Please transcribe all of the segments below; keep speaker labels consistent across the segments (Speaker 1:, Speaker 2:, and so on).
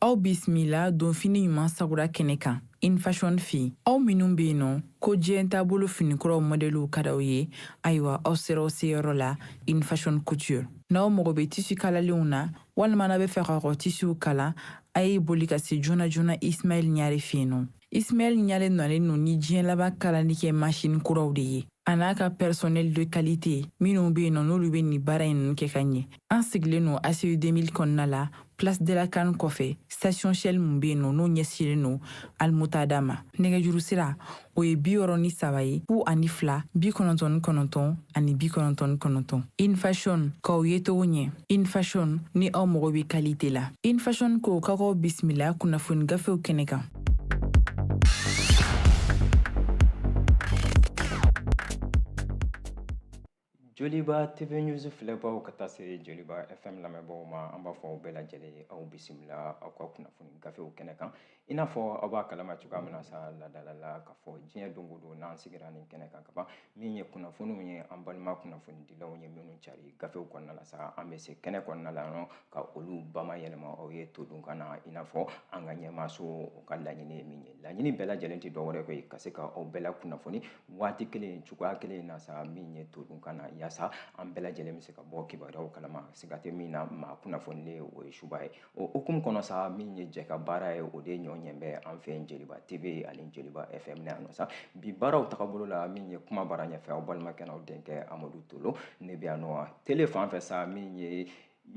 Speaker 1: aw bisimila donfini ɲuman sagura kɛnɛ kan in fashion fɛ aw minnu be yen nɔ ko diɲɛ taabolo finikuraw mɔdɛliw ka d'aw ye ayiwa aw sera aw seyɔrɔ la in fashion couture n'aw mago be tisi kalalenw na walima n'a bɛ fɛ ka kɔ tisiw kala a ye boli ka se joona joona ismaɛl ɲare fɛ yen nɔ ismaɛl ɲare nalen no ni diɲɛ laban kalali kɛ masini kuraw de ye a n'a ka personnel de qualité minnu bɛ yen nɔ n'olu bɛ nin baara in ninnu kɛ ka ɲɛ an sigilen no aci 2000 kɔnɔna la place de la can kɔfɛ station shell mun bɛ yen nɔ n'o ɲɛsilen no almuntada ma nɛgɛjuru sira o ye bi wɔɔrɔ ni saba ye fu ani fila bi kɔnɔntɔn ni kɔnɔntɔn ani bi kɔnɔntɔn ni kɔnɔntɔn in fashion k'aw ye togo ɲɛ in fashion ni aw mago bɛ kalite la in fashion ko ka k'aw bisimila kunnafoni gafew kɛnɛ kan
Speaker 2: joliba tv news filɛbaaw ka taa se joliba fm lamɛnbaaw ma an b'a fɔ aw bɛɛ lajɛlen aw bisimila aw ka kunnafoni gafew kɛnɛ kan i n'a fɔ aw b'a kalama cogoya min na sa ladala la k'a fɔ diɲɛ don o don n'an sigira nin kɛnɛ kan kaban min ye kunnafoniw ye an balima kunnafonidilaw ye minnu cari gafew kɔnɔna la sa an bɛ se kɛnɛ kɔnɔna la yan ka olu bamayɛlɛma aw ye todunkan na i n'a fɔ an ka ɲɛmaaso ka laɲini ye min ye laɲini bɛɛ lajɛlen tɛ dɔwɛrɛ koyi ka se ka aw bɛɛ lakunnafoni waati kelen cogoya kelen na sa min ye todunkan na yaasa an bɛɛ lajɛlen bɛ se ka bɔ kibaruyaw kalama siga tɛ min na maa kunnafonilen o ye subaa ye o hukumu kɔnɔ sa min ye jɛkabaara ye o de ɲɔgɔn bɛ an fɛ yen joliba tv ani joliba fm na yan nɔ sa bi baaraw tagabolo la min ye kumabara ɲɛfɛ aw balimakɛ n'aw denkɛ amadu tolo ne bɛ yan nɔ tele fan fɛ sa min ye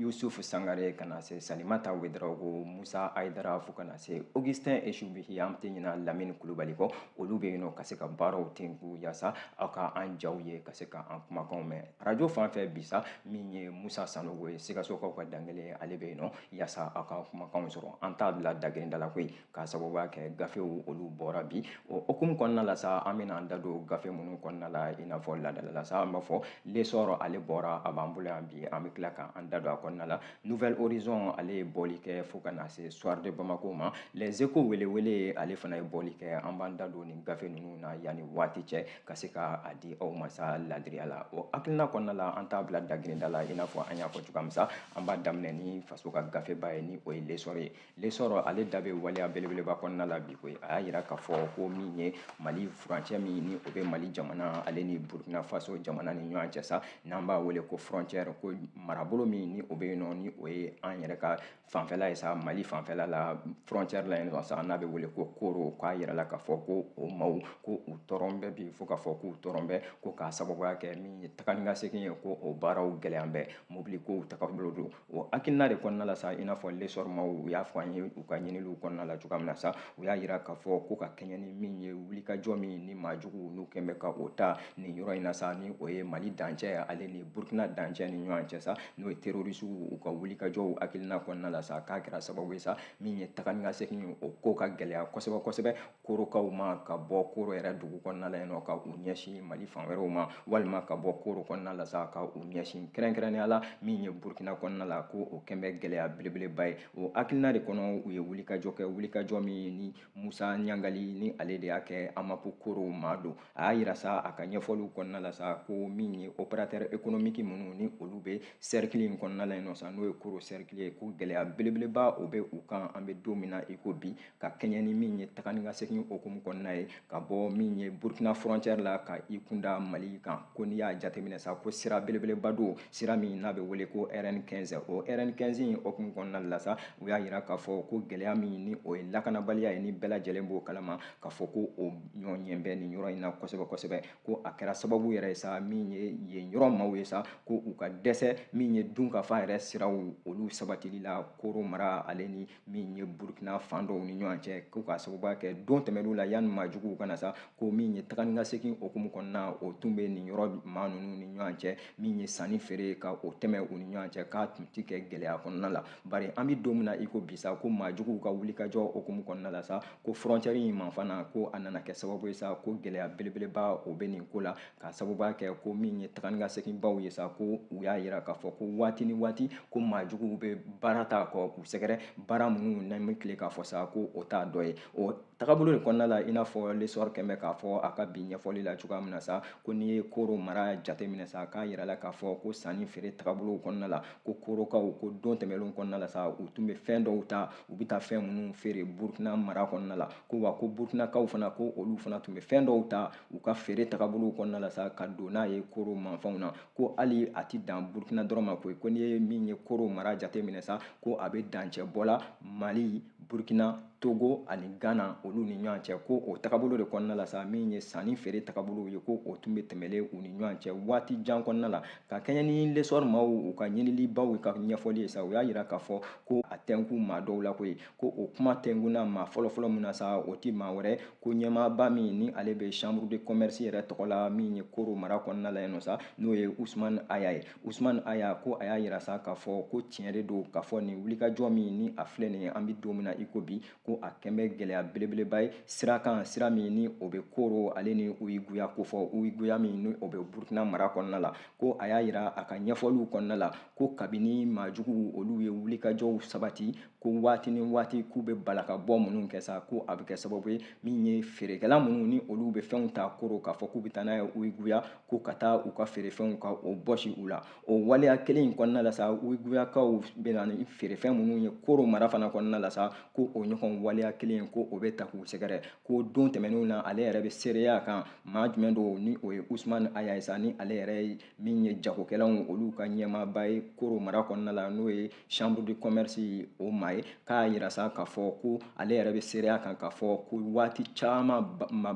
Speaker 2: yusufu sangare ka na se salimata ouedraogo musa ayidara fo ka na se augustin esubihi an tɛ ɲina lamini kulubali kɔ olu bɛ yen nɔ ka se ka baaraw tenku yaasa aw ka an jaw ye ka se ka an kumakanw mɛn arajo fan fɛ bi sa min ye musa sanogo ye sikasokaw ka dankelen ale bɛ yen nɔ yaasa aw ka kumakanw sɔrɔ an t'a bila dagirinda la koyi k'a sababuya kɛ gafew olu bɔra bi o hukumu kɔnɔna la sa an bɛna an da don gafe minnu kɔnɔna la i n'a fɔ ladala la sa an b'a fɔ l'essor ale bɔra a b'an bolo yan bi an bɛ tila ka an da don a kɔnɔna la nouvel horizon ale ye bɔli kɛ fo ka na se soir de bamako ma les échos welewele ale fana ye bɔli kɛ an b'an da don nin gafe ninnu na yanni waati cɛ ka se ka a di aw ma sa ladiriya la o hakilina kɔnɔna la an t'a bila dagirinda la i n'a fɔ an y'a fɔ cogoya min sa an b'a daminɛ ni faso ka gafeba ye ni o ye l'essor ye lesɔrɔ ale da bɛ waleya belebeleba kɔnɔna la bi koyi a y'a yira k'a fɔ ko min ye mali furancɛ min ni o bɛ mali jamana ale ni burkina faso jamana ni ɲɔgɔn cɛ sa n'an b'a wele ko frontière ko marabolo min ni o bɛ yen nɔ ni o ye an yɛrɛ ka fanfɛla ye sa mali fanfɛla la frontière la yen nɔ sa n'a bɛ wele ko koro k'a yira la k'a fɔ ko o maaw ko u tɔɔrɔn bɛ bi fo k'a fɔ k'u tɔɔrɔn bɛ ko k'a sababuya kɛ min ye taga ni ka segin ye ko o baaraw gɛlɛyan bɛ mobili kow tagabolo don o hakilina de kɔnɔna la sa i n'a fɔ lesɔrɔ maaw u y'a fɔ an ye u ka ɲiniliw kɔnɔna la cogoya min na sa u y'a yira k'a fɔ ko ka kɛɲɛ ni min ye wulikajɔ min ni maa juguw n'u kɛn bɛ ka o ta nin yɔrɔ in na sa ni o ye mali dancɛ ale ni burkina dancɛ ni ɲɔgɔn cɛ sa n'o ye terorisiw u ka wulikajɔw hakilina kɔnɔna la sa k'a kɛra sababu ye sa min ye taga ni ka segin o ko ka gɛlɛya kosɛbɛ kosɛbɛ korokaw ma ka bɔ koro yɛrɛ dugu kɔnɔna la yen nɔ ka u ɲɛsin mali fan wɛrɛw ma walima ka bɔ koro kɔnɔna la sa ka u ɲɛsin kɛrɛnkɛrɛnnenya la min ye burkina kɔnɔna la ko o kɛn bɛ gɛlɛya belebeleba ye o hakilina de kɔnɔ u ye wulikajɔ kɛ wulikajɔ min ni musa ɲangali ni ale de y'a kɛ amapu koro maa don a y'a yira sa a ka ɲɛfɔliw kɔnɔna la sa ko min ye opérateur économique minnu ni olu bɛ cercle in kɔnɔna la yen nɔ sa n'o ye koro cercle ye ko gɛlɛya belebeleba o bɛ u kan an bɛ don min na i ko bi ka kɛɲɛ ni min ye taga ni ka segin okumu kɔnɔna ye ka bɔ min ye burkina frontière la ka i kunda mali kan ko n'i y'a jateminɛ sa ko sira belebeleba don sira min n'a bɛ wele ko rn 15 o rn 15 in okumu kɔnɔna la sa u y'a yira k'a fɔ ko gɛlɛya min ni o ye lakanabaliya ye ni bɛɛ lajɛlen b'o kalama k'a fɔ ko o ɲɔgɔn bɛ nin yɔrɔ in na kosɛbɛ kosɛbɛ ko a kɛra sababu yɛrɛ ye sa min ye yen yɔrɔ maaw ye sa ko u ka dɛsɛ min ye dunkafa yɛrɛ siraw olu sabatili la koro mara ale ni min ye burukina fan dɔw ni ɲɔgɔn cɛ ko k'a sababuya kɛ don tɛmɛnlenw la yanni maajuguw kana sa ko min ye taga ni ka segin okumu kɔnɔna o tun bɛ nin yɔrɔ maa ninnu ni ɲɔgɔn cɛ min ye sanni feere ka o tɛmɛ u ni ɲɔgɔn cɛ k'a tun ti kɛ gɛlɛya kɔnɔna la bari an bɛ don min na i ko bi sa ko maajuguw ka wulikajɔ okumu kɔnɔna la sa ko frontière in ma fana ko a nana kɛ sababu ye sa ko gɛlɛya belebeleba o bɛ nin ko la k'a sababuya kɛ ko min ye taga ni ka segin baw ye sa ko u y'a yira k'a fɔ ko waati ni waati ko maa juguw bɛ baara ta ko k'u sɛgɛrɛ baara minnu n'an bɛ tile k'a fɔ sa ko o t'a dɔ ye o tagabolo de kɔnɔna la i n'a fɔ lesɔrɔ kɛn bɛ k'a fɔ a ka bi ɲɛfɔli la cogoya min na sa ko n'i ye koro mara jateminɛ sa k'a yira la k'a fɔ ko sanni feere tagabolow kɔnɔna la ko korokaw ko don tɛmɛnlenw kɔnɔna la sa u tun bɛ fɛn dɔw ta u bɛ taa fɛn minnu feere burukina mara kɔnɔna la ko wa ko burukinakaw fana ko olu fana tun bɛ fɛn dɔw ta u ka feere tagabolow kɔnɔna la sa ka don n'a ye koro manfɛnw na ko hali a ti dan burukina dɔrɔn ma koyi ko n'i ye min ye koro mara jateminɛ sa ko a bɛ dancɛ bɔ la mali burukina togo ani gana olu ni ɲɔgɔn cɛ ko o tagabolo de kɔnɔna la sa min ye sanni feere tagabolow ye ko o tun bɛ tɛmɛlen u ni ɲɔgɔn cɛ waati jan kɔnɔna la ka kɛɲɛ ni l'essor maaw u ka ɲinilibaw ka ɲɛfɔli ye sa u y'a yira k'a fɔ ko a tɛnkun maa dɔw la koyi ko o kuma tɛnkunna maa fɔlɔfɔlɔ min na sa o tɛ maa wɛrɛ ko ɲɛmaaba min ni ale bɛ chambre de commerce yɛrɛ tɔgɔ la min ye koro mara kɔnɔna la yen nɔ sa n'o ye usumani aya ye usumani aya ko a y'a yira sa k'a fɔ ko tiɲɛ de don k'a fɔ nin wulikajɔ min ni a filɛ nin ye an bɛ don min na i ko bi ko a kɛn bɛ gɛlɛya belebeleba ye sira kan sira min ni o bɛ koro ale ni uyiguya ko fɔ uyiguya min ni o bɛ burukina mara kɔnɔna la ko a y'a yira a ka ɲɛfɔliw kɔnɔna la ko kabini maajuguw olu ye wulikajɔw sabati ko waati ni waati k'u bɛ bala ka bɔ minnu kɛ sa ko a bɛ kɛ sababu ye min ye feerekɛla minnu ni olu bɛ fɛnw ta koro k'a fɔ k'u bɛ taa n'a ye uyiguya ko ka taa u ka feerefɛnw ka o bɔsi u la o waleya kelen in kɔnɔna la sa uyiguyakaw bɛ na ni feerefɛn minnu ye koro mara fana kɔnɔna la sa ko o ɲɔgɔn waleya kelen in ko o bɛ taa k'u sɛgɛrɛ ko don tɛmɛnenw na ale yɛrɛ bɛ seereya kan maa jumɛn don ni o ye usumani aya ye sa ni ale yɛrɛ ye min ye jagokɛlaw olu ka ɲɛmaaba ye koro mara kɔnɔna la n'o ye chambre de commerce o maa ye k'a yira sa k'a fɔ ko ale yɛrɛ bɛ seereya kan k'a fɔ ko waati caman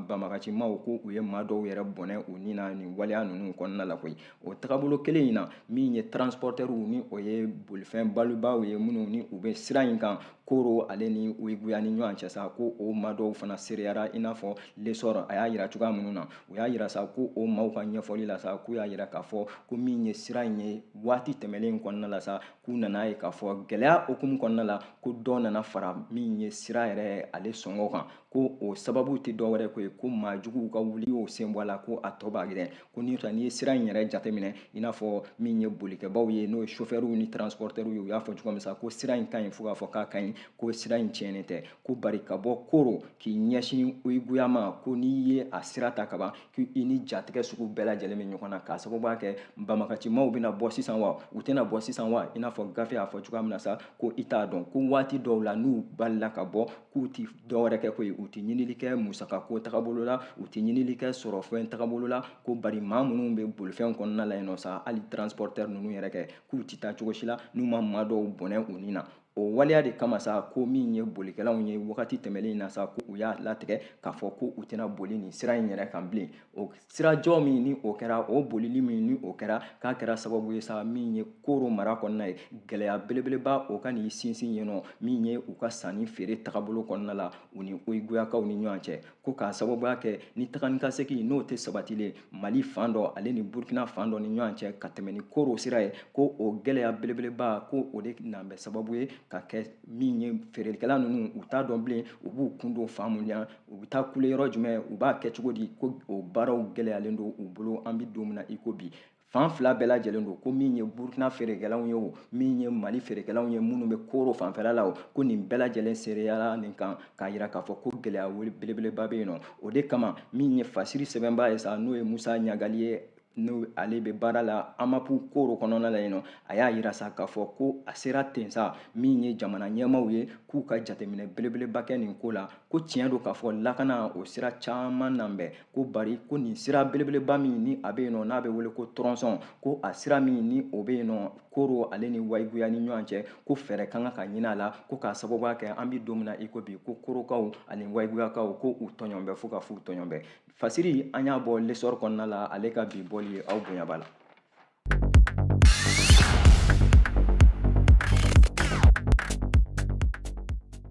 Speaker 2: banbagacimaw ko u ye maa dɔw yɛrɛ bɔnɛ u ni na nin waleya ninnu kɔnɔna la koyi o tagabolo kelen in na min ye transportɛriw ni o ye bolifɛn bolibaaw ye minnu ni u bɛ sira in kan koro ale ni uyiguya ni ɲɔgɔn cɛ sa ko o maa dɔw fana seereyara i n'a fɔ l'essor a y'a yira cogoya minnu na u y'a yira sa ko o maaw ka ɲɛfɔli la sa k'u y'a yira k'a fɔ ko min ye sira in ye waati tɛmɛlen kɔnɔna la sa k'u nana ye k'a fɔ gɛlɛya hukumu kɔnɔna la ko dɔ nana fara min ye sira yɛrɛ ale sɔngɔ kan ko o sababu tɛ dɔwɛrɛ ko ye ko maajuguw ka wuli y'o sen bɔ a la ko a tɔ b'a gɛrɛ ko ni n'i ye sira in yɛrɛ jateminɛ i n'a fɔ min ye bolikɛbaaw ye n'o ye sofɛriw ni transportɛriw ye u y'a fɔ cogo min sa ko sira in ka ɲi fo k'a fɔ k'a ka ɲi ko sira in tiɲɛnen tɛ ko bari ka bɔ koro k'i ɲɛsin uyiguya ma ko n'i ye a sira ta kaban ko i ni jatigɛ sugu bɛɛ lajɛlen bɛ ɲɔgɔn na k'a sababuya kɛ banbagacimaw bɛna bɔ sisan wa u tɛna bɔ sisan wa i n'a fɔ gafe y'a fɔ cogoya min na sa ko i t'a dɔn ko waati dɔw la n'u balala ka bɔ k'u tɛ dɔwɛrɛ kɛ koyi u tɛ ɲinili kɛ musakako tagabolo la u tɛ ɲinili kɛ sɔrɔfɛn tagabolo la ko bari maa minnu bɛ bolifɛn kɔnɔna la yen nɔ sa hali transportɛri ninnu yɛrɛ kɛ k'u tɛ taa cogo si la n'u ma maa dɔw bɔnɛ u ni na o waleya de kama sa ko min ye bolikɛlaw ye wagati tɛmɛlen na sa ko u y'a latigɛ k'a fɔ ko u tɛna boli nin sira in yɛrɛ kan bilen o sirajɔ min ni o kɛra o bolili min ni o kɛra k'a kɛra sababu ye sa min ye koro mara kɔnɔna ye gɛlɛya belebeleba o ka n'i sinsin yen nɔ min ye u ka sanni feere tagabolo kɔnɔna la u ni wayiguyakaw ni ɲɔgɔn cɛ ko k'a sababuya kɛ ni taga ni ka segin n'o tɛ sabatilen mali fan dɔ ale ni burkina fan dɔ ni ɲɔgɔn cɛ ka tɛmɛ ni koro sira ye ko o gɛlɛya belebeleba ko o de nan bɛ sababu ye ka kɛ min ye feerelikɛla ninnu u t'a dɔn bilen u b'u kun don fan mun na u bɛ taa kule yɔrɔ jumɛn u b'a kɛ cogo di ko o baaraw gɛlɛyalen don u bolo an bɛ don min na i ko bi fan fila bɛɛ lajɛlen don ko min ye burukina feerekɛlaw ye o min ye mali feerekɛlaw ye minnu bɛ koro fanfɛla la o ko nin bɛɛ lajɛlen seereyara nin kan k'a yira k'a fɔ ko gɛlɛya belebeleba bɛ yen nɔ o de kama min ye fasiri sɛbɛnbaa ye sa n'o ye musa ɲagali ye n'o ale bɛ baara la amapu koro kɔnɔna la yen nɔ a y'a yira sa k'a fɔ ko a sera ten sa min ye jamana ɲɛmaaw ye k'u ka jateminɛ belebeleba kɛ nin ko la ko tiɲɛ don k'a fɔ lakana o sira caman nan bɛ ko bari ko nin sira belebeleba min ni a bɛ yen nɔ n'a bɛ wele ko tɔrɔnsɔn ko a sira min ni o bɛ yen nɔ koro ale ni wayiguya ni ɲɔgɔn cɛ ko fɛɛrɛ ka kan ka ɲini a la ko k'a sababuya kɛ an bɛ don min na i ko bi ko korokaw ani wayiguyakaw ko u tɔɲɔn bɛ fo ka f'u tɔɲɔn bɛ fasiri an y'a bɔ l'essor kɔnɔna la ale ka bi bɔli ye aw bonya b'a la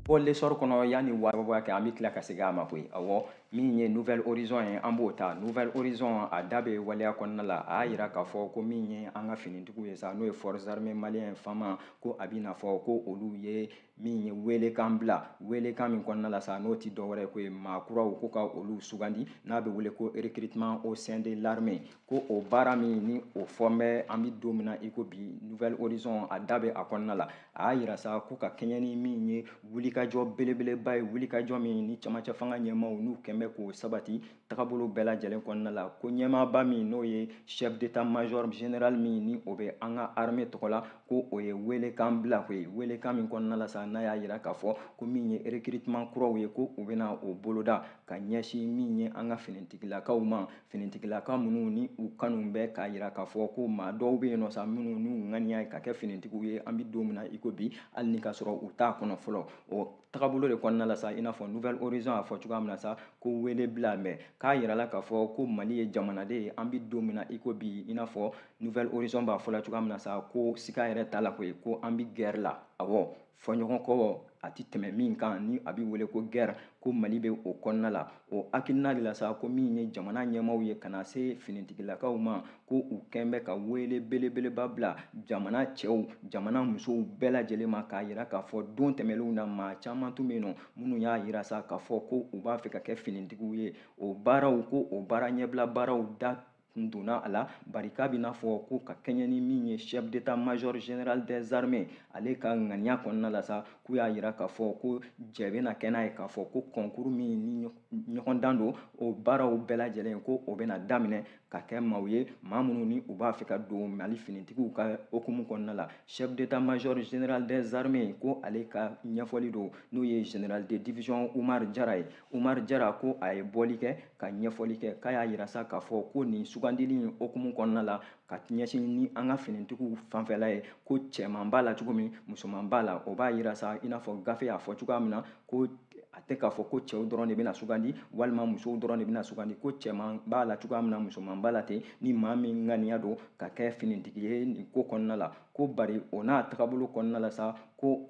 Speaker 2: bɔ l'essor kɔnɔ yanni a ban kɛ an bɛ tila ka segin a ma koyi awɔ min ye nouvel horizon ye an b'o ta nouvel horizon a da bɛ waleya kɔnɔna la a y'a yira k'a fɔ ko min ye an ka finitigiw ye sa n'o ye forces armées maliennes fama ko a bɛ n'a fɔ ko olu ye min ye weelekan bila weelekan min kɔnɔna la sa n'o tɛ dɔwɛrɛ ko ye maa kuraw ko ka olu sugandi n'a bɛ wele ko recrutement au sein de l'armée ko o baara min ni o fɔn bɛ an bɛ don min na i ko bi nouvel horizon a da bɛ a kɔnɔna la a y'a yira sa ko ka kɛɲɛ ni min ye wulikajɔ belebeleba ye wulikajɔ min ni camancɛ fanga ɲɛmaaw n'u kɛn bɛ k'o sabati tagabolo bɛɛ lajɛlen kɔnɔna la ko ɲɛmaaba min n'o ye chef d'état major général min ni o bɛ an ka armée tɔgɔ la ko o ye weelekan bila koyi weelekan min kɔnɔna la sa n'a y'a yira k'a fɔ ko min ye recrutement kuraw ye ko u bɛna o boloda ka ɲɛsin min ye an ka finitigilakaw ma finitigilaka minnu ni u kanu bɛ k'a yira k'a fɔ ko maa dɔw bɛ yen nɔ sa minnu n'u ŋaniya ye ka kɛ finitigiw ye an bɛ don min na i ko bi hali ni ka sɔrɔ u t'a kɔnɔ fɔlɔ o tagabolo de kɔnɔna la sa i n'a fɔ nouvel horizon y'a fɔ cogoya min na sa ko wele bilan bɛ k'a yirala k'a fɔ ko mali ye jamana de ye an bɛ don min na i ko bi i n'a fɔ nouvel horizon b'a fɔla cogoya min na sa ko siga yɛrɛ t'a la koyi ko an bɛ guerre la awɔ fɔɲɔgɔnkɔ a tɛ tɛmɛ min kan ni a bɛ wele ko gɛrɛ ko mali bɛ o kɔnɔna la o hakilina de la sa ko min ye jamana ɲɛmaaw ye ka na se finitigilakaw ma ko u kɛn bɛ ka wele belebeleba bila jamana cɛw jamana musow bɛɛ lajɛlen ma k'a jira k'a fɔ don tɛmɛnlenw na maa caman tun bɛ yen nɔ minnu y'a jira sa k'a fɔ ko u b'a fɛ ka kɛ finitigiw ye o baaraw ko o baara ɲɛbila baaraw da n donna a la bari k'a bɛna fɔ ko ka kɛɲɛ ni min ye chef d'état major général des armées ale ka ŋaniya kɔnɔna la sa k'u y'a jira k'a fɔ ko jɛ bɛna kɛ n'a ye k'a fɔ ko kɔnkuru min ni ɲɔgɔndan don o baaraw bɛɛ lajɛlen ko o bɛna daminɛ ka kɛ maaw ye maa minnu ni u b'a fɛ ka don mali finitigiw ka hukumu kɔnɔna la chef d'état major général des armées ko ale ka ɲɛfɔli don n'o ye général de division umar jara ye Umar Jara ko a ye bɔli kɛ ka ɲɛfɔli kɛ k'a y'a jira sa k'a fɔ ko nin sugandili in hukumu kɔnɔna la ka ɲɛsin ni an ka finitigiw fanfɛla ye ko cɛman b'a la cogo min musoman b'a la o b'a jira sa i n'a fɔ gafe y'a fɔ cogoya min na ko a tɛ k'a fɔ ko cɛw dɔrɔn de bɛna sugandi walima musow dɔrɔn de bɛna sugandi ko cɛman b'a la cogoya min na musoman b'a la ten ni maa min ŋaniya don ka kɛ finitigi ye nin ko kɔnɔna la ko bari o n'a tagabolo kɔnɔna la sa ko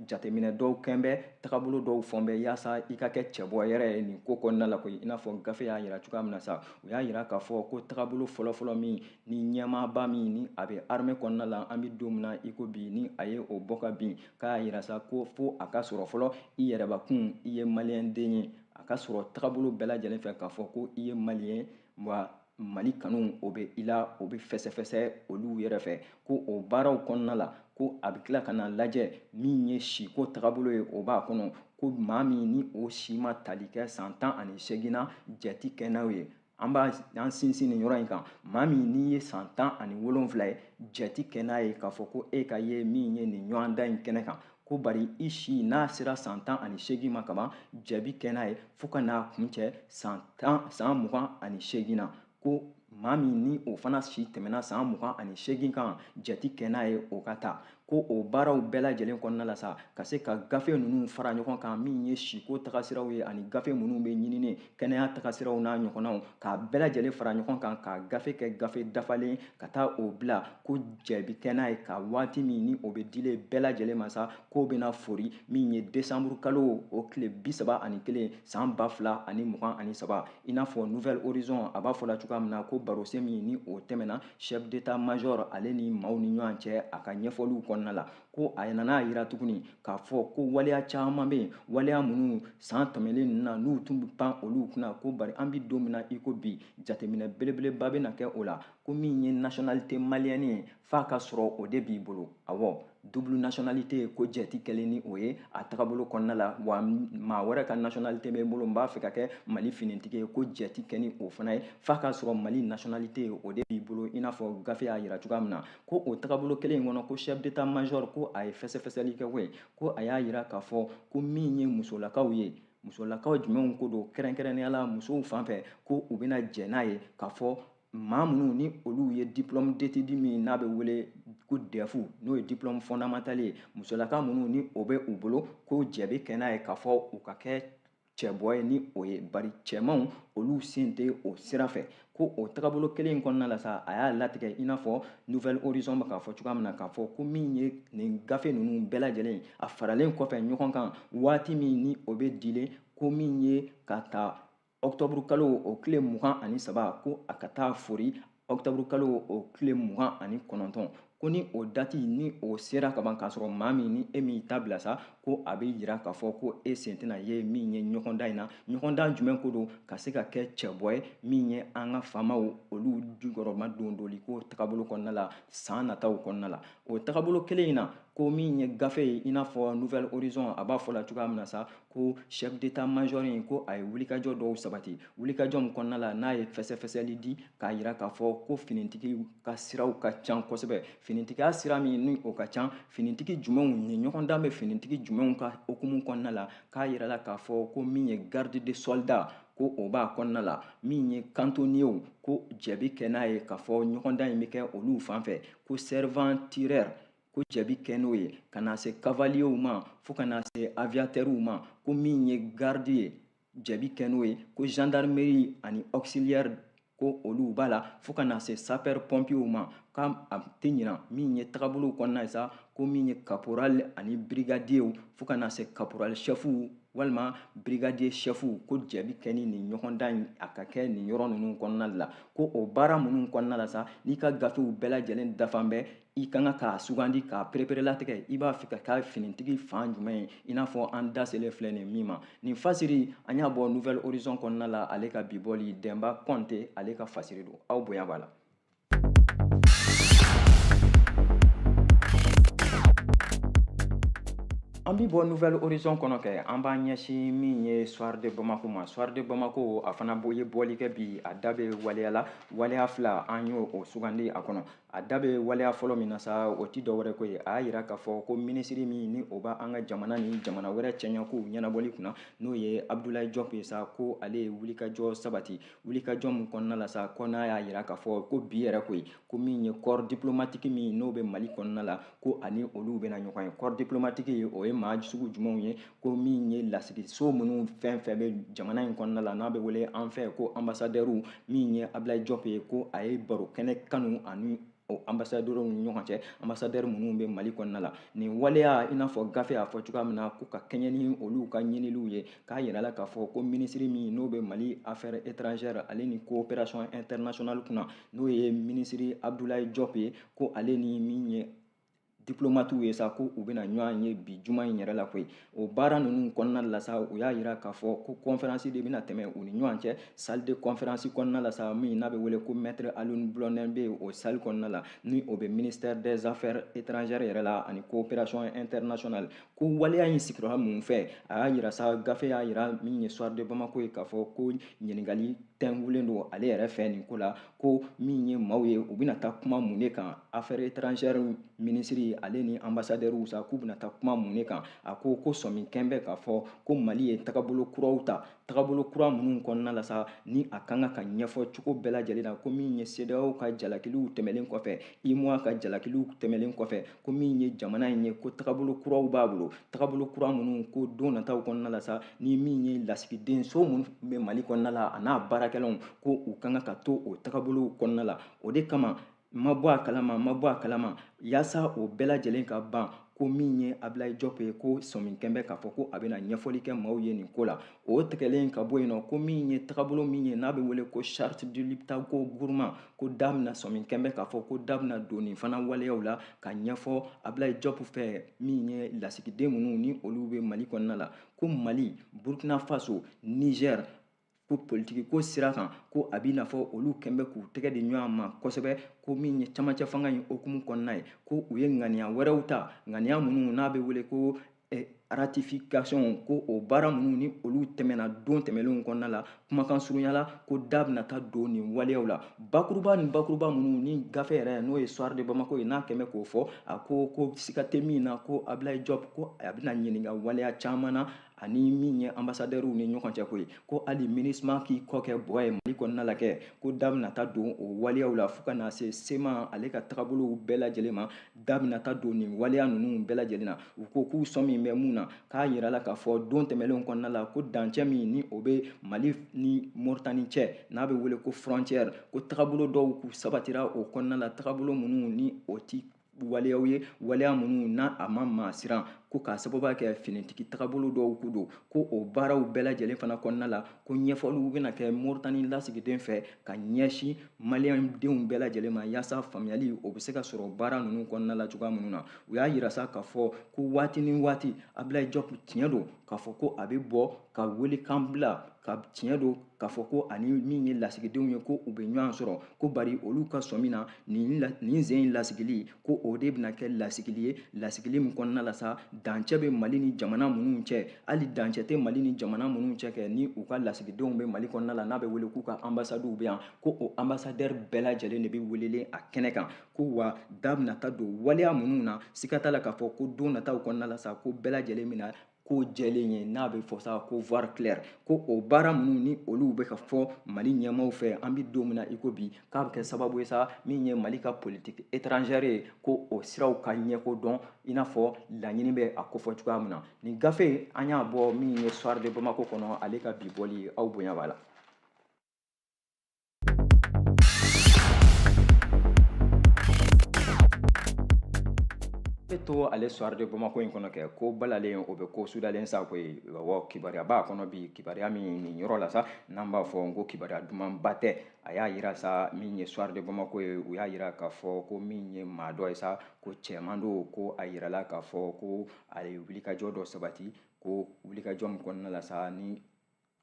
Speaker 2: jateminɛ dɔw kɛn bɛ tagabolo dɔw fɔn bɛ yaasa i ka kɛ cɛbɔ yɛrɛ ye nin ko kɔnɔna la koyi i n'a fɔ gafe y'a jira cogoya min na sa u y'a jira k'a fɔ ko taabolo fɔlɔfɔlɔ min ni ɲɛmaaba min ni a bɛ arme kɔnɔna la an bɛ don min na i ko bi ni a ye o bɔ ka bin k'a y'a jira sa ko fo a ka sɔrɔ fɔlɔ i yɛrɛbakun i ye maliyɛnden ye a ka sɔrɔ taabolo bɛɛ lajɛlen fɛ k'a fɔ ko i ye maliyɛn wa mali kanu o bɛ i la o bɛ fɛsɛfɛsɛ olu yɛrɛ fɛ ko o baaraw kɔnɔna la ko a bɛ tila ka na lajɛ min ye siko tagabolo ye o b'a kɔnɔ ko maa min ni o si ma tali kɛ san tan ani seegin na jate kɛ n'aw ye an b'an sinsin nin yɔrɔ in kan maa min n'i ye san tan ani wolonfila ye jate kɛ n'a ye k'a fɔ ko e ka ye min ye nin ɲɔgɔndan in kɛnɛ kan ko bari i si n'a sera san tan ani seegin ma kaban jaabi kɛ n'a ye fo ka n'a kuncɛ san mugan ani seegin na ko maa min ni o fana si tɛmɛna san mugan ani seegin kan jate kɛ n'a ye o ka ta ko o baaraw bɛɛ lajɛlen kɔnɔna la sa ka se ka gafe ninnu fara ɲɔgɔn kan min ye siko tagasiraw ye ani gafe minnu bɛ ɲinini kɛnɛya tagasiraw n'a ɲɔgɔnnaw k'a bɛɛ lajɛlen fara ɲɔgɔn kan k'a gafe kɛ gafe dafalen ka taa o bila ko jaabi kɛ n'a ye ka waati min ni o bɛ dilen bɛɛ lajɛlen ma sa k'o bɛna fori min ye desanburu kalo o tile bi saba ani kelen san ba fila ani mugan ani saba i n'a fɔ nouvel horizon a b'a fɔ la cogoya min na ko barosen min ni o tɛmɛna chef d'état major ale ni maaw ni ɲɔgɔn cɛ a ka ɲɛfɔliw kɔnɔna la ko a nana a yira tuguni k'a fɔ ko waleya caman bɛ yen waleya minnu san tɛmɛnlen ninnu na n'u tun bɛ pan olu kunna ko bari an bɛ don min na i ko bi jateminɛ belebeleba bɛna kɛ o la ko min ye nationalité malienne ye f'a ka sɔrɔ o de b'i bolo awɔ double nationalité ko jɛ tɛ kɛlen ni o ye a tagabolo kɔnɔna la wa maa wɛrɛ ka nationalité bɛ n bolo n b'a fɛ ka kɛ mali finitigi ye ko jɛ tɛ kɛ ni o fana ye f'a ka sɔrɔ mali nationalité o de b'i bolo i n'a fɔ gafe y'a yira cogoya min na ko o tagabolo kelen in kɔnɔ ko chef d'état major ko a ye fɛsɛfɛsɛli kɛ koyi ko a y'a yira k'a fɔ ko min ye musolakaw ye musolakaw jumɛnw ko don kɛrɛnkɛrɛnnenya la musow fan fɛ ko u bɛna jɛ n'a ye k'a fɔ maa minnu ni olu ye diplôme d'étude min n'a bɛ wele ko DEF n'o ye diplôme fondamental ye musolaka minnu ni o bɛ u bolo ko jɛ bɛ kɛ n'a ye k'a fɔ u ka kɛ cɛbɔ ye ni o ye bari cɛmanw olu sen tɛ o sira fɛ ko o tagabolo kelen in kɔnɔna la sa a y'a latigɛ i n'a fɔ nouvel horizon bɛ k'a fɔ cogoya min na k'a fɔ ko min ye nin gafe ninnu bɛɛ lajɛlen a faralen kɔfɛ ɲɔgɔn kan waati min ni o bɛ dilen ko min ye ka ta ɔkutɔburu kalo o tile mugan ani saba ko a ka taa foori octobre kalo o tile mugan ani kɔnɔntɔn ko ni o dati ni o sera ka ban k'a sɔrɔ maa min ni e m'i ta bila sa ko a bɛ yira k'a fɔ ko e sen tɛna ye min ye ɲɔgɔndan in na ɲɔgɔndan jumɛn ko don ka se ka kɛ cɛbɔ ye min ye an ka famaw olu jukɔrɔmadondoli ko tagabolo kɔnɔna la san nataw kɔnɔna la o tagabolo kelen in na ko min ye gafe ye i n'a fɔ nouvel horizon a b'a fɔ la cogoya min na sa ko chef d'état major in ko a ye wulikajɔ dɔw sabati wulikajɔ min kɔnɔna la n'a ye fɛsɛfɛsɛli di k'a yira k'a fɔ ko finitigi ka siraw ka can kosɛbɛ finitigiya sira min ni o ka can finitigi jumɛnw ni ɲɔgɔndan bɛ finitigi jumɛnw ka hukumu kɔnɔna la k'a yirala k'a fɔ ko min ye garde de soldat ko o b'a kɔnɔna la min ye kantoniyew ko jɛ bɛ kɛ n'a ye k'a fɔ ɲɔgɔndan in bɛ kɛ olu fan fɛ ko servant tireur ko jɛ bɛ kɛ n'o ye ka na se kavaliyew ma fo ka na se aviyatɛriw ma ko min ye garidi ye jɛ bɛ kɛ n'o ye ko zandarimeri ani ɔkisiliyɛri ko olu b'a la fo ka na se sapɛri pɔnpiyew ma k'a tɛ ɲina min ye tagabolow kɔnɔna ye sa ko min ye kaporali ani birigadiyew fo ka na se kaporali sɛfuw walima birigadiye sɛfuw ko jɛ bɛ kɛ ni nin ɲɔgɔndan in a ka kɛ nin yɔrɔ ninnu kɔnɔna de la ko o baara minnu kɔnɔna la sa n'i ka gafew bɛɛ lajɛlen dafan bɛ i ka kan k'a sugandi k'a pereperelatigɛ i b'a fɛ ka kɛ finitigi fan jumɛn ye i n'a fɔ an da selen filɛ nin min ma nin fasiri an y'a bɔ nouvel horizon kɔnɔna la ale ka bi bɔli dɛnba kɔnte ale ka fasiri don aw bonya b'a la an bi bɔ nouvel horizon kɔnɔ kɛ an b'a ɲɛsin min ye soir de bamako ma soir de bamako a fana ye bɔli kɛ bi a da bɛ waleya la waleya fila an y'o sugandi a kɔnɔ a da bɛ waleya fɔlɔ min na sa o tɛ dɔwɛrɛ ko ye a y'a jira k'a fɔ ko minisiri min ni o b'an ka jamana ni jamana wɛrɛ cɛɲɔgɔnkow ɲɛnabɔli kunna n'o ye abudulayi jɔp ye sa ko ale ye wulikajɔ sabati wulikajɔ min kɔnɔna la sa ko n'a y'a jira k'a fɔ ko bi yɛrɛ koyi ko min ye kɔɔri diplomatiki min n'o bɛ mali kɔnɔna la ko a ni olu bɛna ɲɔgɔn ye kɔɔri diplomatiki o ye maa sugu jumɛnw ye ko min ye lasigiso minnu fɛn fɛn bɛ jamana in kɔnɔna la n'a bɛ wele an fɛ ko anbasadɛriw min ye abilayi jɔp ye ko a ye baro kɛnɛ kanu a ni o anbasadɛriw ni ɲɔgɔn cɛ anbasadɛri minnu bɛ mali kɔnɔna la nin waleya i n'a fɔ gafe y'a fɔ cogoya min na ko ka kɛɲɛ ni olu ka ɲiniliw ye k'a jirala k'a fɔ ko minisiri min n'o bɛ mali affaires étrangères ale ni coopération internationale kunna n'o ye minisiri abudulayi jɔp ye ko ale ni min ye diplomatiw ye sa ko u bɛna ɲɔgɔn ye bi juma in yɛrɛ la koyi o baara ninnu kɔnɔna la sa u y'a jira k'a fɔ ko kɔnferansi de bɛna tɛmɛ u ni ɲɔgɔn cɛ salle de conférence kɔnɔna la sa min n'a bɛ wele ko maître alioune blondin beye o salle kɔnɔna la ni o bɛ ministère des affaires étrangères yɛrɛ la ani coopération internationale ko waleya in sigira mun fɛ a y'a jira sa gafe y'a jira min ye soir de bamako ye k'a fɔ ko ɲininkali tɛnkulen don ale yɛrɛ fɛ nin ko la ko min ye maaw ye u bɛna taa kuma mun de kan affaires étrangères minisiri ale ni ambassadɛriw sa k'u bɛna taa kuma mun de kan a ko ko sɔmi kɛn bɛ k'a fɔ ko mali ye tagabolo kuraw ta tagabolo kura minnu kɔnɔna la sa ni a kan ka ka ɲɛfɔ cogo bɛɛ lajɛlen na ko min ye CEDEAO ka jalakiliw tɛmɛlen kɔfɛ UEMOA ka jalakiliw tɛmɛlen kɔfɛ ko min ye jamana in ye ko tagabolo kuraw b'a bolo tagabolo kura minnu ko don nataw kɔnɔna la sa ni min ye lasigiden so minnu bɛ mali kɔnɔna la a n'a baarakɛlaw ko u ka kan ka to o tagabolow kɔnɔna la o de kama n ma bɔ a kalama n ma bɔ a kalama yaasa o bɛɛ lajɛlen ka ban ko min ye abilayi jɔp ye ko sɔmi kɛn bɛ k'a fɔ ko a bɛna ɲɛfɔli kɛ maaw ye nin ko la o tigɛlen ka bɔ yen nɔ ko min ye tagabolo min ye n'a bɛ wele ko charte du liptako gourma ko da bɛna sɔmi kɛn bɛ k'a fɔ ko da bɛna don nin fana waleyaw la ka ɲɛfɔ abilayi jɔp fɛ min ye lasigiden minnu ni olu bɛ mali kɔnɔna la ko mali burkina faso niger ko politiki ko sira kan ko a b'i n'a fɔ olu kɛn bɛ k'u tɛgɛ di ɲɔgɔn ma kosɛbɛ ko min ye camancɛ fanga in hukumu kɔnɔna ye ko u ye ŋaniya wɛrɛw ta ŋaniya minnu n'a bɛ wele ko eh, ratification ko o baara minnu ni olu tɛmɛna don tɛmɛlenw kɔnɔna la kumakan surunya la ko da bɛna taa don nin waleyaw la bakuruba ni bakuruba minnu ni gafe yɛrɛ n'o ye soir de bamako ye n'a kɛn bɛ k'o fɔ a ko ko siga tɛ min na ko abilayi jɔp ko a bɛna ɲininka waleya caman na a ni min ye anbasadɛriw ni ɲɔgɔn cɛ koyi ko hali MINUSMA k'i kɔ kɛ bɔ ye mali kɔnɔna la kɛ ko da bɛna taa don o waleyaw la fo ka na se CMA ale ka tagabolow bɛɛ lajɛlen ma da bɛna taa don nin waleya ninnu bɛɛ lajɛlen na u ko k'u sɔmi bɛ mun na k'a yirala k'a fɔ don tɛmɛnlenw kɔnɔna la ko dancɛ min ni o bɛ mali ni moritani cɛ n'a bɛ wele ko frontière ko tagabolo dɔw k'u sabatira o kɔnɔna la tagabolo minnu ni o ti waleyaw ye waleya minnu n'a ma maa siran ko k'a sababuya kɛ finitigi tagabolo dɔw k'u don ko o baaraw bɛɛ lajɛlen fana kɔnɔna la ko ɲɛfɔliw bɛna kɛ moritani lasigiden fɛ ka ɲɛsin maliyɛndenw bɛɛ lajɛlen ma yaasa faamuyali o bɛ se ka sɔrɔ baara ninnu kɔnɔna la cogoya minnu na u y'a yira sa k'a fɔ ko waati ni waati abilayi jɔpu tiɲɛ don k'a fɔ ko a bɛ bɔ ka welekan bila ka tiɲɛ don k'a fɔ ko a ni min ye lasigidenw ye ko u bɛ ɲɔgɔn sɔrɔ ko bari olu ka sɔmi na nin sen in lasigili ko o de bɛna kɛ lasigili ye lasigili min kɔnɔna la sa dancɛ bɛ mali ni jamana minnu cɛ hali dancɛ tɛ mali ni jamana minnu cɛ kɛ ni u ka lasigidenw bɛ mali kɔnɔna la n'a bɛ wele k'u ka anbasadiw bɛ yan ko o anbasadɛri bɛɛ lajɛlen de bɛ welelen a kɛnɛ kan ko wa da bɛna taa don waleya minnu na siga t'a la k'a fɔ ko don nataw kɔnɔna la sa ko bɛɛ lajɛlen bɛna ko jɛlen ye n'a bɛ fɔ sa ko voir clair ko o baara minnu ni olu bɛ ka fɔ mali ɲɛmaaw fɛ an bɛ don min na i ko bi k'a bɛ kɛ sababu ye sa min ye mali ka politique étrangère ye ko o siraw ka ɲɛko dɔn i n'a fɔ laɲini bɛ a kofɔ cogoya min na nin gafe an y'a bɔ min ye soir de bamako kɔnɔ ale ka bi bɔli aw bonya b'a la bɛ to ale soir de Bamako in kɔnɔ kɛ ko balalen o bɛ ko sudalen sa koyi awɔ kibaruya b'a kɔnɔ bi kibaruya min nin yɔrɔ la sa n'an b'a fɔ n ko kibaruya dumanba tɛ a y'a yira sa min ye soir de Bamako ye u y'a yira k'a fɔ ko min ye maa dɔ ye sa ko cɛman don ko a yirala k'a fɔ ko a ye wulikajɔ dɔ sabati ko wulikajɔ min kɔnɔna la sa ni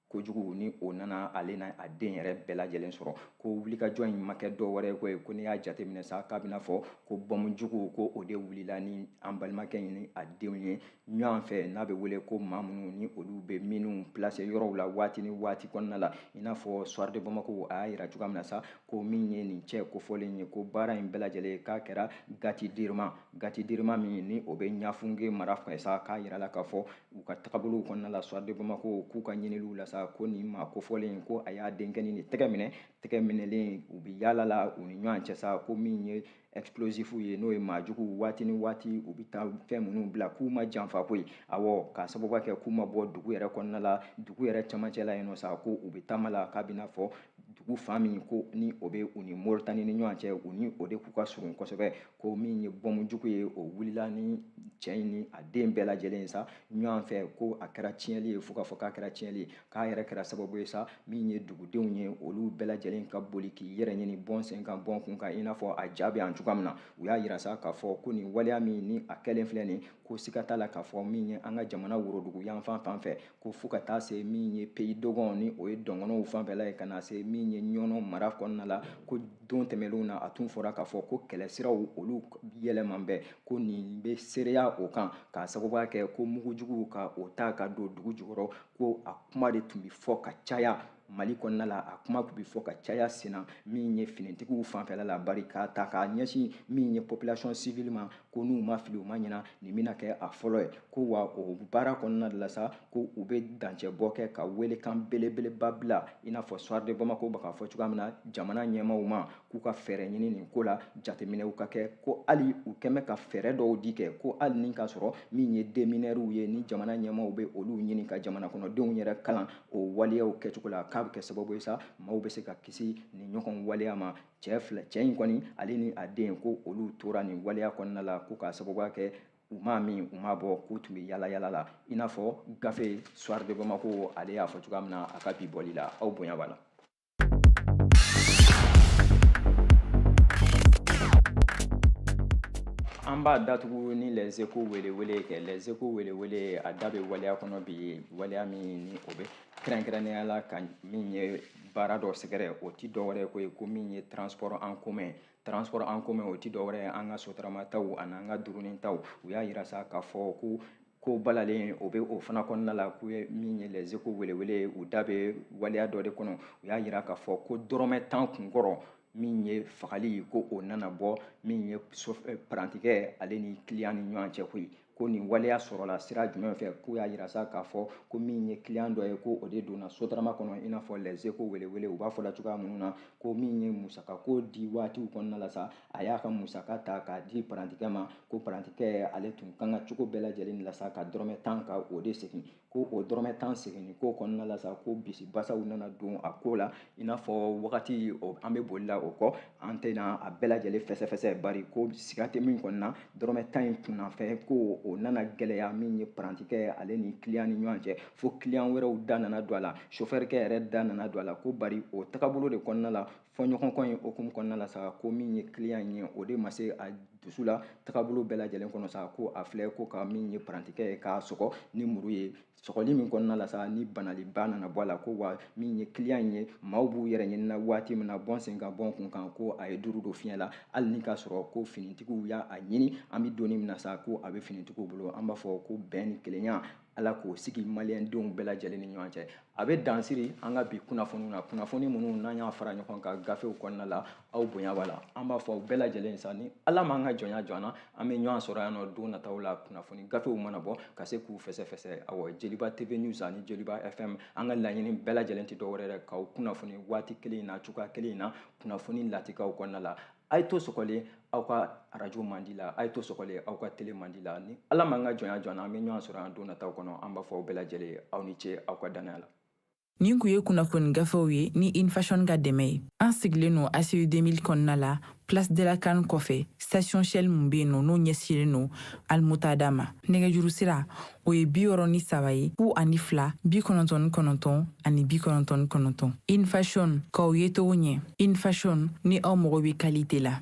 Speaker 2: kojugu ni o nana ale n'a den yɛrɛ bɛɛ lajɛlen sɔrɔ ko wulikajɔ in ma kɛ dɔ wɛrɛ ko ye ko n'i y'a jateminɛ sa k'a bɛna fɔ ko bɔmu jugu ko o de wulila ni an balimakɛ in ni a denw ye ɲɔgɔn fɛ n'a bɛ wele ko maa minnu ni olu bɛ mine pilase yɔrɔw la waati ni waati kɔnɔna la i n'a fɔ soir de bamako a y'a yira cogoya min na sa ko min ye nin cɛ kofɔlen ye ko baara in bɛɛ lajɛlen k'a kɛra gati dirima gati dirima min ni o bɛ ɲafunge mara fɛ sa k'a yirala k'a fɔ u ka tagabolow kɔnɔna la soir de bamako k'u ka ɲiniliw la sa ko nin maa kofɔlen ko a y'a denkɛnin de tɛgɛ minɛ tɛgɛ minɛlen u bɛ yaala la u ni ɲɔgɔn cɛ sa ko min ye explosif ye n'o ye maa juguw waati ni waati u bɛ taa fɛn minnu bila ka maa janfa koyi awɔ k'a sababuya kɛ k'u ma bɔ dugu yɛrɛ kɔnɔna la dugu yɛrɛ camancɛ la yen nɔ sa ko u bɛ taama la k'a bɛna fɔ dugu fan min ko ni o bɛ u ni moritani ni ɲɔgɔn cɛ u ni o de k'u ka surun kosɛbɛ ko min ye bɔmu jugu ye o wulila ni cɛ in ni a den bɛɛ lajɛlen ye sa ɲɔgɔn fɛ ko a kɛra tiɲɛli ye fo k'a fɔ k'a kɛra tiɲɛli ye k'a yɛrɛ kɛra sababu ye sa min ye dugudenw ye olu bɛɛ lajɛlen ka boli k'i yɛrɛ ɲini bɔ n sen kan bɔ n kun kan i n'a fɔ a ja bɛ yan cogoya min na u y'a yira sa k'a fɔ ko nin waleya min ni a kɛlen filɛ nin ko siga t'a la k'a fɔ min ye an ka jamana worodugu yanfan fan fɛ ko fo ka taa se min ye pays dogon ni o ye dɔngɔnɔw fanfɛla ye ka na se min ye ɲɔnɔ mara kɔnɔna la ko don tɛmɛnlenw na a tun fɔra k'a fɔ ko kɛlɛsiraw olu yɛlɛman bɛ ko nin bɛ seereya o kan k'a sababuya kɛ ko mugujuguw ka o ta ka don dugu jukɔrɔ ko a kuma de tun bɛ fɔ ka caya mali kɔnɔna la a kuma tun bɛ fɔ ka caya senna min ye finitigiw fanfɛla la bari k'a ta k'a ɲɛsin min ye population civile ma ko n'u ma fili u ma ɲina nin bɛna kɛ a fɔlɔ ye ko wa o baara kɔnɔna de la sa ko u bɛ dancɛbɔ kɛ ka welekan belebeleba bila i n'a fɔ soir de bamako bɛ k'a fɔ cogoya min na jamana ɲɛmaaw ma k'u ka fɛɛrɛ ɲini nin ko la jateminɛw ka kɛ ko hali u kɛn bɛ ka fɛɛrɛ dɔw di kɛ ko hali ni k'a sɔrɔ min ye démineurs ye ni jamana ɲɛmaaw bɛ olu ɲini ka jamanakɔnɔdenw yɛrɛ kalan o waleyaw kɛcogo la k'a bɛ kɛ sababu ye sa maaw bɛ se ka kisi nin ɲɔgɔn waleya ma cɛ cɛ in kɔni ale ni a den ko olu tora nin waleya kɔnɔna la ko k'a sababuya kɛ u m'a min u m'a bɔn k'u tun bɛ yaalayaala la i n'a fɔ gafe soir de bamako ale y'a fɔ cogoya min na a ka bi bɔli la aw bonya b'a la an b'a datugu ni les échos welewele kɛ les échos welewele a da bɛ waleya kɔnɔ bi waleya min ni o bɛ kɛrɛnkɛrɛnnenya la ka min ye baara dɔ sɛgɛrɛ o ti dɔwɛrɛ ko ye ko min ye transport en commun transport en commun o ti dɔwɛrɛ ye an ka sotaramataw ani an ka durunintaw u y'a yira sa k'a fɔ ko ko balalen o bɛ o fana kɔnɔna la k'u ye min ye les échos welewele ye u da bɛ waleya dɔ de kɔnɔ u y'a yira k'a fɔ ko dɔrɔmɛ tan kunkɔrɔ min ye fagali ko o nana bɔ min ye parantikɛ ale ni kiliyan ni ɲɔgɔn cɛ koyi ko nin waleya sɔrɔla sira jumɛn fɛ k'u y'a yira sa k'a fɔ ko min ye kiliyan dɔ ye ko o de donna sotarama kɔnɔ i n'a fɔ les échos welewele u b'a fɔ la cogoya minnu na ko min ye musakako di waatiw kɔnɔna la sa a y'a ka musaka ta k'a di parantikɛ ma ko parantikɛ ale tun kan ka cogo bɛɛ lajɛlen la sa ka dɔrɔmɛ tan ka o de segin ko o dɔrɔmɛ tan seginni ko kɔnɔna la sa ko bisibasaw nana don a ko la i n'a fɔ wagati an bɛ boli la o kɔ an tɛna a bɛɛ lajɛlen fɛsɛfɛsɛ bari ko siga tɛ min kɔni na dɔrɔmɛ tan in kunnafɛ ko o nana gɛlɛya min ye parantikɛ ale ni kiliyan ni ɲɔgɔn cɛ fo kiliyan wɛrɛw da nana don a la sofɛrikɛ yɛrɛ da nana don a la ko bari o tagabolo de kɔnɔna la fɔɲɔgɔnkɔ in hukumu kɔnɔna la sa ko min ye kiliyan in ye o de ma se a dusu la tagabolo bɛɛ lajɛlen kɔnɔ sa ko a filɛ ko ka min ye parantikɛ ye k'a sɔgɔ ni muru ye sɔgɔli min kɔnɔna la sa ni banaliba nana bɔ a la ko wa min ye kiliyan in ye maaw b'u yɛrɛ ɲininka waati min na bɔn sen kan bɔn kun kan ko a ye duuru don fiɲɛ la hali ni k'a sɔrɔ ko finitigiw y'a ɲini an bɛ donni min na sa ko a bɛ finitigiw bolo an b'a fɔ ko bɛn ni kelenya ala k'o sigi maliyendenw bɛɛ lajɛlen ni ɲɔgɔn cɛ a bɛ dansiri an ka bi kunnafoniw na kunnafoni minnu n'an y'a fara ɲɔgɔn kan gafew kɔnɔna la aw bonya b'a la an b'a fɔ aw bɛɛ lajɛlen sa ni ala m'an ka jɔnya jɔ an na an bɛ ɲɔgɔn sɔrɔ yan nɔ don nataw la kunnafoni gafew mana bɔ ka se k'u fɛsɛfɛsɛ awɔ jeliba tv news ani jeliba fm an ka laɲini bɛɛ lajɛlen tɛ dɔwɛrɛ dɛ k'aw kunnafoni waati kelen in na cogoya kelen in na kunnafoni lakikaw kɔnɔna la a ye to sɔgɔlen aw ka arajo mandi la a ye to sɔgɔlen aw ka tele mandi la ni ala m'an ka jɔnya jɔ an na an bɛ ɲɔgɔn sɔrɔ yan don nataw kɔnɔ an b'a fɔ aw bɛɛ lajɛlen aw ni ce aw ka dannaya la nin tun ye
Speaker 1: kunnafoni gafew ye ni infashion ka dɛmɛ ye an sigilen no aci 2000 kɔnɔna la place de la can kɔfɛ station shell min bɛ yen nɔ n'o ɲɛsilen no almuntada ma nɛgɛjuru sira o ye bi wɔɔrɔ ni saba ye fu ani fila bi kɔnɔntɔn ni kɔnɔntɔn ani bi kɔnɔntɔn ni kɔnɔntɔn infashion k'aw yecogo ɲɛ infashion ni aw mago bɛ kalite la